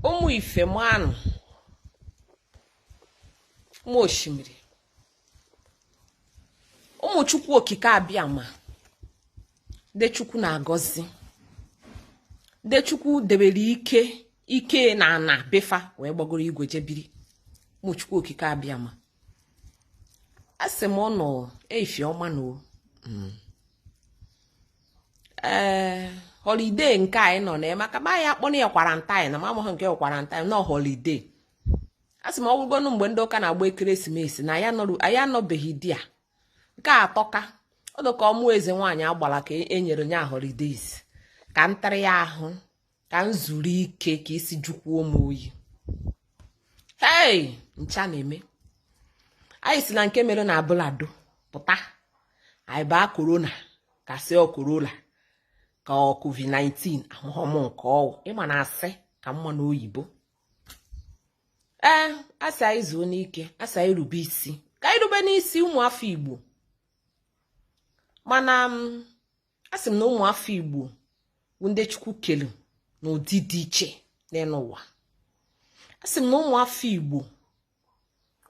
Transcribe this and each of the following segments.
ụmụ ife manụ ụmụ osimiri ụmụ chukwu okike abịama ndị chukwu na-agọzi ndị chukwu debere ike ike na ana be fa wee gbagoro igwe je biri ụmụ chukwu okike abịama asị m ụnụ ife ọma nụ o mm. ee eh, holiday nke anyị nọ na maka ma ya akpọ na ya quarantine na amahụ m nke ọ quarantine na ọ holiday a sị m ọ wụkwanụ mgbe ndị ụka na-agba ekeresimesi na anyị anọbeghị ụdị ya nke a tọka ọdụ ka ọ mụ eze nwaanyị agbara ka e nyere nye holidays ka ntarị ya ahụ ka m zuru ike ka isi jukwuo m oyi ihe ncha na-eme anyị si na nke mere na abule ado pụta anyị baa corona ka sị ọ corona ka ọ covid-19 amahụ m nke ọ wụ ị ma na asị ka mma n'oyibo ee a sị anyị zuonụ ike a sị anyị rube isi ka anyị rubenụ isi ụmụafọ igbo mana mm, a sị m na ụmụafọ igbo bụ ndị chukwu kelu n'ụdị dị iche n'enu ụwa a sị m na ụmụafọ igbo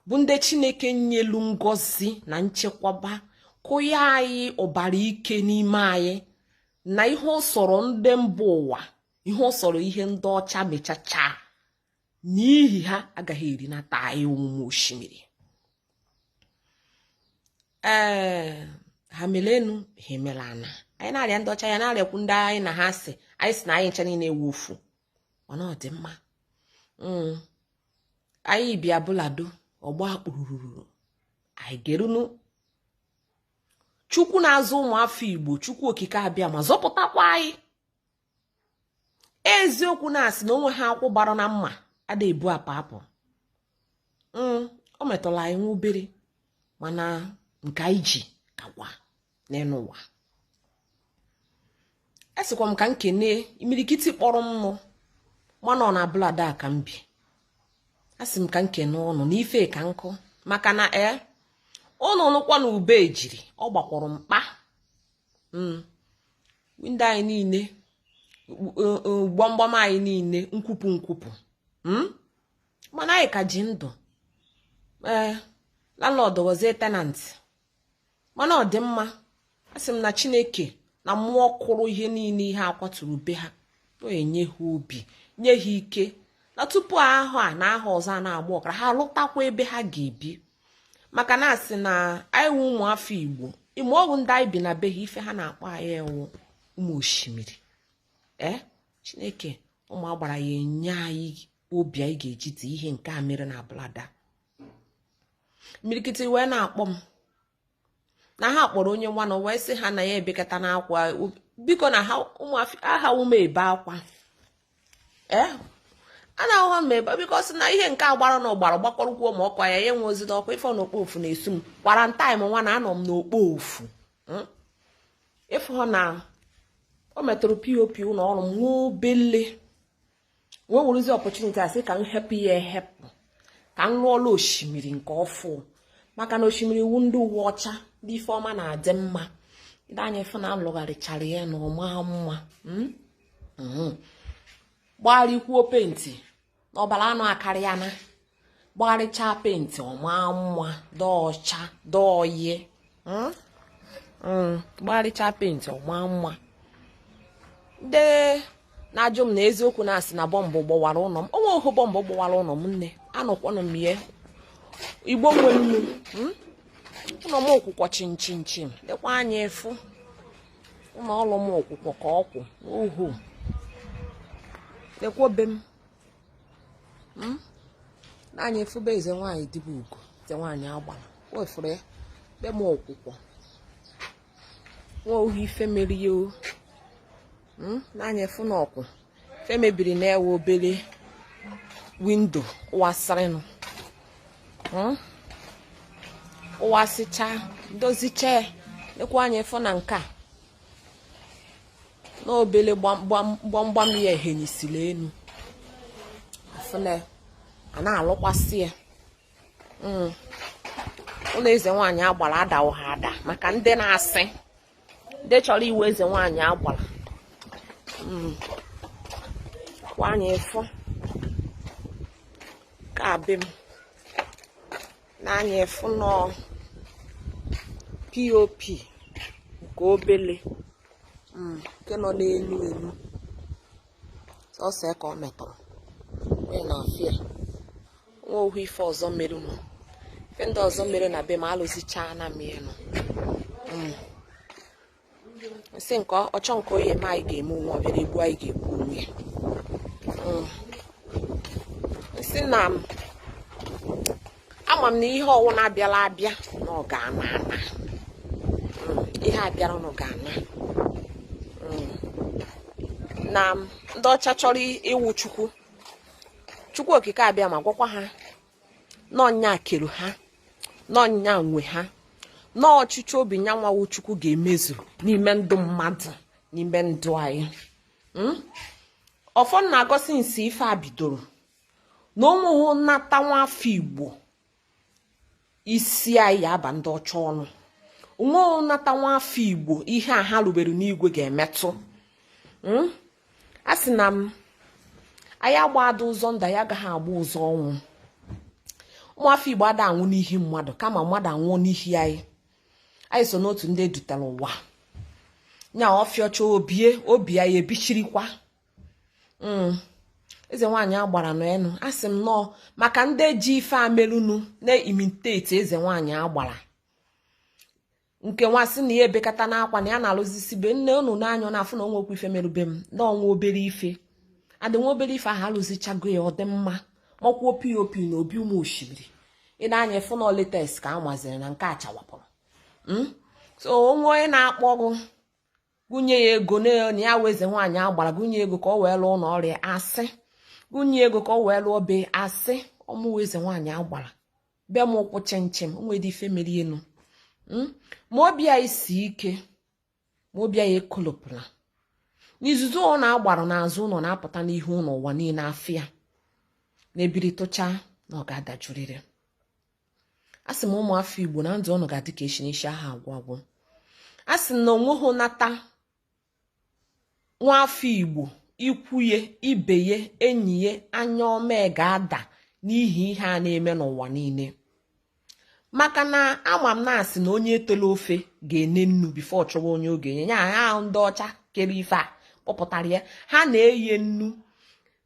bụ ndị chineke nyelu ngozi na nchekwaba kụnye anyị ọbara ike n'ime anyị na ihe ọ sọrọ ndị mba ụwa ihe ọ sọrọ ihe ndị ọcha mechacha na ihe ha agaghị eri na taa anyị ụmụ osimiri ee ha mere enu ha emere ana anyị na-arịa ndị ọcha ya na-arịakwu ndị anyị na ha si anyị si na anyị ncha niile wụ ofu mana ọ dị mma hmm. anyị bịa abule ado ọ gbaa kpụrụrụrụ anyị gerunu chukwu na-azụ ụmụafọ igbo chukwu okike abịama zọpụtakwa anyị eziokwu na a sị na o nwehụ ọkụ gbara na mma ada ebu apa apụ mm, o metụla anyị nwa obere mana nke anyị ji kakwa n'enu ụwa asịkwa m ka m kene imirikiti kpọrọ m nụ ma na ọ na abule ado ka m bi asị m ka m kene ụnụ n'ife ka nkụ maka na ee eh, ụnụ nụ akwa na ube ejiri ọ gbakwuru mkpa mm. windo anyị niile gbamgbam anyị niile nkwupụ nkwupụ hmm? mana anyị ka ji ndụ ee eh, landlord wụzie tenant mana ọ dị mma asị m na chineke na mmụọ kụrụ ihe niile ihe akwaturu be ha ya nye ha obi nye ha ike na tupu ahọ a na ahọ ọzọ a na-agba ọkara ha lụtakwa ebe ha ga-ebi maka na a sị na anyị wụ ụmụ afọ igbo ị ma ọ wụ ndị anyị bi na be ha ife ha na-akpọ anyị wụ ụmụ oshimiri ee eh? chineke ụmụ agbara ya enye anyị obi anyị ga-eji die ihe nke a mere na brother mirikiti wee na-akpọ m na ha kpọrọ onye nwa na wee sị ha na ya ebekatana akwa biko na aha ume ebe akwa ee eh? a na-ahụ ha mebe biko sị na ihe nke a gbara na ọ gbara gbakọrọkwuo ma ọkwa ya ya enwe ozi n'ọkwa ife n'okpo ofu na-esu m quarantine nwa na anọ m n'okpo ofu hmm? ị fụ na o metụrụ pop ụlọ ọrụ m nwa obele wee werezie opportunity a sị ka m hepụ ya ehepụ ka m lụọla oshimiri nke ọfụ maka na oshimiri wụ ndị uwe ọcha ndị ife ọma na-adị mma ndị anya fụ na a lụgharịchara ya na ọ ma mma hmm? hmm. gbarịkwuo penti na ọbara anụ akarịana gbarịchaa penti ọ ma mma dị ọcha dị oyi hmm? hmm, gbarịchaa penti ọ ma mma ndị na-ajụ m na eziokwu na a sị na bọmbụ gbọwara ụlọ m o nweho bọmbụ gbọwara ụlọ m nne anọkwanụ m ihe igbo nwe nnu hmm? ụlọ m ọ kwụkwọ chịm chịm chịm lekwa anya afụ ụlọ ọrụ m ọ kwụkwọ ka ọ kwụ ohu lekwọ be m hmm? n'anya afụ be eze nwaanyị di bụ ugo eze nwaanyị agbara wee fụrụ ya be m ọ kwụkwọ o nweho ife mere ya o hmm? n'anya afụ na ọ kwọ ife mebiri na ọ wụ obere window ọ wasịrịnụ hmm? ọ wasịcha dozicha lekwa anya afụ na nke a na obele gbamgbam ya ehenyisiri elu afụ na a na-alụkwasị ya hmm. ụlọ eze nwaanyị agbara adaho ada maka ndị na-asị ndị chọrọ ịwụ eze nwaanyị agbara hmm. ka anyị fụ ka be m n'anya afụ na ọ pop nke obele mm, nke nọ n'elu elu sọsọ ka ọ metụrụ wee naa afịa o nweho ife ọzọ mere nụ ife ndị ọzọ mere na be m alụzichaana m ya nụ mm. m sị nke ọ chọ nke ọ ya-eme anyị ga-eme onwe ọbịara egbu anyị ga-egbu onwe ya mm. m sị na m ama m na ihe ọwụna bịara abịa na ọ ga-ana ana mm. ihe abịara na ọ ga-ana mm. na ndị ọcha chọrọ ịwụ chukwu chukwu okike abịama gwakwa ha na onye kere ha na onye nwe ha na ọchịchọ obi nya nwa wụ chukwu ga-emezu n'ime ndụ mmadụ n'ime ndụ anyị hmm? ọfọ na-agọ si n'isi ife a bidoro na onweghị nnata nwa afọ igbo isi anyị aba ndị ọcha ọnụ onweghị nnata nwa afọ igbo ihe a ha rubere n'igwe ga-emetụ hmm? a sị na m anyị agbada ụzọ ndụ anyị agaghị agba ụzọ ọnwụ ụmụafọ igbo ada anwụ n'ihi mmadụ kama mmadụ anwụọ n'ihi anyị anyị so n'otu ndị edutara ụwa nya ọfịọcha obie obi anyị ebichirikwa mm. eze nwaanyị agbara n'enu a sị m nọọ maka ndị ji ife a melunu na-imitate eze nwaanyị agbara nke nwa sị na ya ebekata n'akwa na ya na-alụzisi be nne unu n'anya ọ na-afụ na o nwekwu ife merube m na o nwe obere ife adị nwa obere ife ahụ alụzichago ya ọ dị mma makwuo pop na obi ụmụ osimiri ị na-anya efu na ọ latest ka a maziri na nke a chawapụrụ hmm? so o nwe onye na-akpọ gụ gụ nye ya ego na ya wụ eze nwaanyị agbara gụ nye ego ka ọ wee lụọ ụlọ ọrịa asị gụ nye ego ka ọ wee lụọ be asị ọ mụwa eze nwaanyị agbara be m kwụ chịm chịm o nwedị ife mere enu hmm? ma obi anyị si ike ma obi anyị ekolopụla na izuzu ọ na-agbara n'azụ ụnọ na-apụta n'ihu ụnọ ụwa niine afụ ya na ebiri tụcha na ọ ga-adajụrịrị a sị m ụmụ afọ igbo na ndụ unu ga-adị ka echi n'isi aha agwụ agwụ a sị na onweghị nata nwafọ Igbo ikwuye ibeye enyiye anya ọma ga-ada n'ihi ihe a na-eme n'ụwa niine maka na ama m na a sị na onye tele ofe ga-ene nnu before ọ chọwa onye ọ ga-enye ya ha ahụ ndị ọcha kere ife a kpọpụtara ya ha na-eye nnu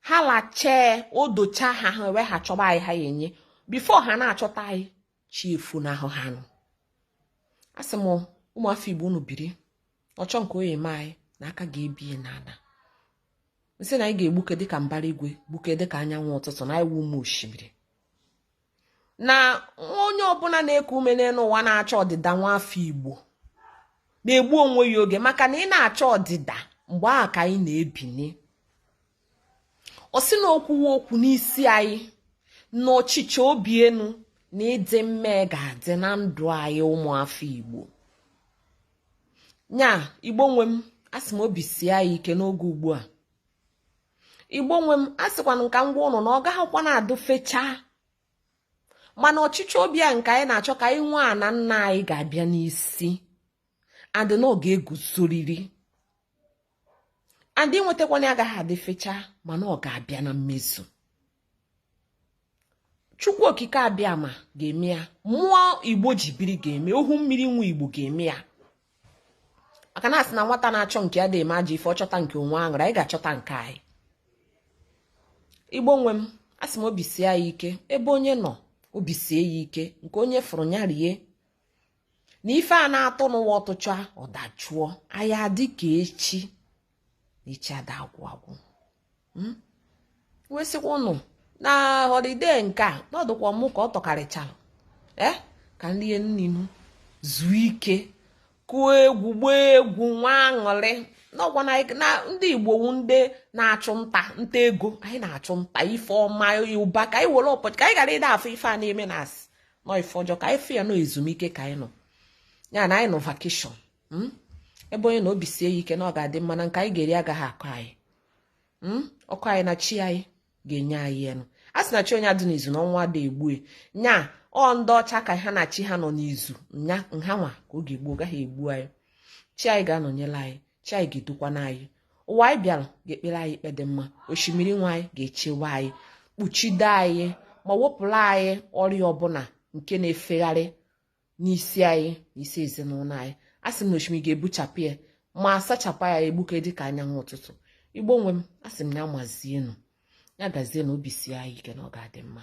ha lachee o docha ha ha wee ha chọba anyị ha enye before ha na-achọta anyị chi efu na ahụ ha nụ asị m ụmụafọ igbo unu biri ọchọ nke o ye-eme anyị na aka ga-ebie n'ana m sị na anyị ga-egbuke dịka mbara igwe gbuke dịka anyanwụ ụtụtụ na anyị wụ ụmụ osimiri na onye ọbụna na-eku ume n'enu ụwa na-achọ ọdịda nwa afọ igbo na-egbu onwe ya oge maka na ị na-achọ ọdịda mgbe ahụ ka anyị na-ebini ọ sị na okwuwe okwu n'isi anyị na ọchịchọ obi enu na ịdị mma ga-adị na ndụ anyị ụmụafọ igbo nya igbo nwe m asị m obi sie anyị ike n'oge ugbu a igbo nwe m asịkwana m ka m gwa unu na ọ gaghịkwa na-adụ fechaa mana ọchịchọ obi a nke anyị na-achọ ka anyị nwee ana nna anyị ga-abịa n'isi and na ọ ga-eguzoriri and inwetakwana ya agaghị adị fecha mana ọ ga-abịa na mmezu chukwu okike abịama ga-eme ya mmụọ igbo ji biri ga-eme ohimiri nwe igbo ga-eme ya maka na a sị na nwata na-achọ nke ya adị eme ajọ ife ọ chọta nke o nwee aṅụrị anyị ga-achọta nke anyị igbo nwe m a sị m obi sie ya ike ebe onye nọ obi sie ya ike nke onye fụrụ ya rie na ife a na-atụ n'ụwa ọ tụcha ọ dajụọ anyị adị ka echi na echi ada agwụ agwụ hmm? wee sịkwa ụnụ na holiday nke a na ọ dịkwa mụ ka ọ tọkarịchara ee eh? ka anyị rie nni nụ zuo ike kụọ egwu gbaa egwu nwee aṅụrị n'ọgwa na ndị igbo wu ndị na-achụ nta nta ego anyị na-achụ nta ife ọma ụba ka anyị were ụbọchị ka anyị ghara ịda afụ ife a na-eme na-asị na ọ ife ọjọọ ka anyị fụ ya na ọ ezumike ka anyị nọ ya na anyị nọ vacation hmm? ebe onye nọ obi sie ya ike na ọ ga-adị mma na nke anyị ga-eri agaghị akọ anyị hmm? ọ kọ anyị na chi anyị ga-enye anyị enu a sị na chi onye adị n'izu na ọnwụ adị egbu nya ọ ndị ọcha ka ha na chi ha nọ n'izu nya na ha nwa ka ọ ga-egbu ọ gaghị egbu anyị chi anyị ga-anọnyere anyị chi anyị ga-edukwana anyị ụwa anyị bịara ga-ekpere anyị ikpe dị mma osimiri nwe anyị ga-echewe anyị kpuchide anyị ma wepụrụ anyị ọrịa ọbụla nke na-efegharị n'isi anyị na isi ezinụlọ anyị a sị m na osimiri ga-ebuchapụ ya ma asachapụ ya egbuke dị ka anyanwụ ụtụtụ igbo nwe m a sị m ya mazienụ ya gazienụ obi sie anyị ike na ọ ga-adị mma